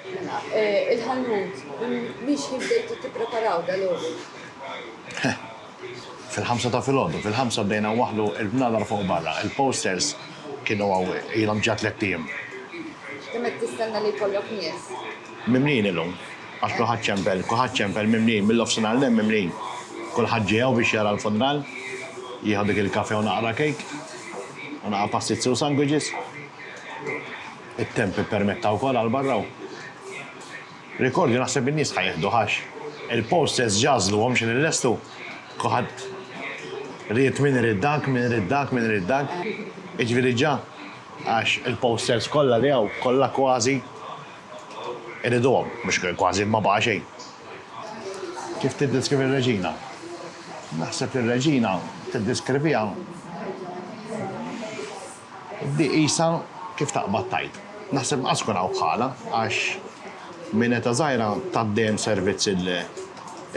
Mela, eh, il-ħanut, mhix ħin bdejtu tippreparaw dal-għodu? Fil-ħamsa ta' filgħodu, fil-ħamsa bdejna waħlu il-bnadar fuq barra, il-posters kienu għaw ilhom ġa tliet ijiem. Kemm qed tistenna li jkollok nies? Mimlin illum, għax kulħadd ċempel, kulħadd ċempel mimlin, mill-offsinhar l mimlin. Kulħadd ġie hawn biex jara l-funral, jieħu dik il-kafe u naqra kejk, u naqra pastizi u sandwiches. It-temp ippermetta wkoll għal barra u rikordju naħseb in-nies ħa jieħduh għax il-posters ġa għażluhom x'in illestu. Kulħadd ried min irid dak, min irid dak, min irid dak. Jiġifieri ġa għax il-posters kollha li hawn, kollha kważi iriduhom. Mhux kważi, ma baqa' xejn. Kif tiddeskrivi r-Reġina? Naħseb li r-Reġina tiddeskriviha. Di qisha kif taqbad tgħid. Naħseb ma qas ikun hawn bħalha għax minn età żgħira tat dejjem servizz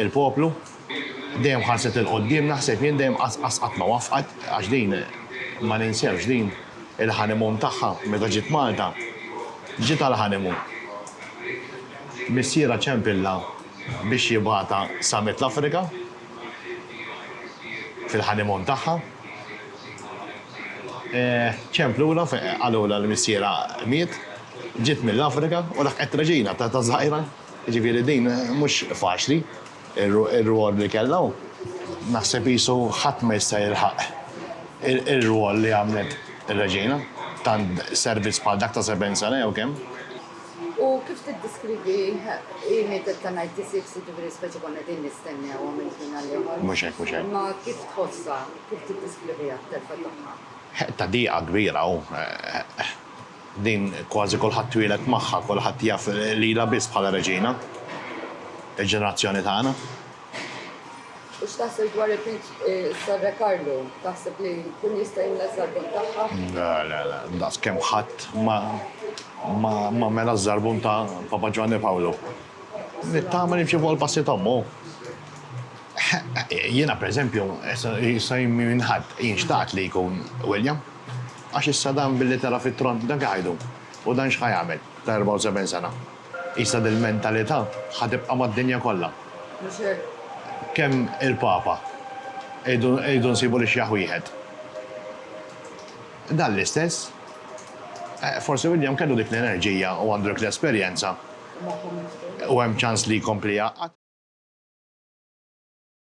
il-poplu, dejjem ħarset 'il quddiem, naħseb jien dejjem qas qatt ma waffqet għax din ma ninsewx din il-honeymoon tagħha meta ġiet Malta ġiet għal honeymoon. Missierha ċempillha biex jibgħatha sa mitt l-Afrika fil-honeymoon tagħha. Ċemp lura fejn qalulha li missierha miet, ġiet mill-Afrika u laħqet reġina ta' żgħira. Jiġifieri din mhux faċli r-rwol li kellha u naħseb qisu ħadd ma jista' jilħaq ir-rwol li għamlet ir-reġina, tant servizz bħal dak ta' sebgħin sena jew kemm. U kif tiddeskrivi hi mietet ta' ninety six, jiġifieri speċi konna qegħdin nistennewha minn ħin għal ieħor. Mhux hekk, mhux hekk. Imma kif tħossha? Kif tiddeskriviha t-telfa tagħha? Ta' diqa kbira u din kważi kulħadd twieled magħha, kulħadd jaf lilha biss bħala reġina. Il-ġenerazzjoni tagħna. U x'taħseb dwar is-Sor Re Karlu? Taħseb li jkun jista' jimla ż-żarbun tagħha? Le, le, le. Daqskemm ħadd ma mela ż-żarbun ta' Papa Ġwanni Pawlu. Nittama li jimxi fuq il-passi t'ommu. Jiena pereżempju, issa jien minn ħadd, jien xtaqt li jkun William. Għax issa dan billi tela' fit-tron dan xi ħa jdum? U dan xi ħa jagħmel ta' erbgħa u seben sena? Issa dil-mentalità ħa tibqa' mad-dinja kollha. Mhux hekk? Kemm il-Papa irridu nsibu l-ixjaħ wieħed. Dan l-istess. Forsi William kellu dik l-enerġija u għandu dik l-esperjenza u hemm ċans li jkompli jgħaqqad.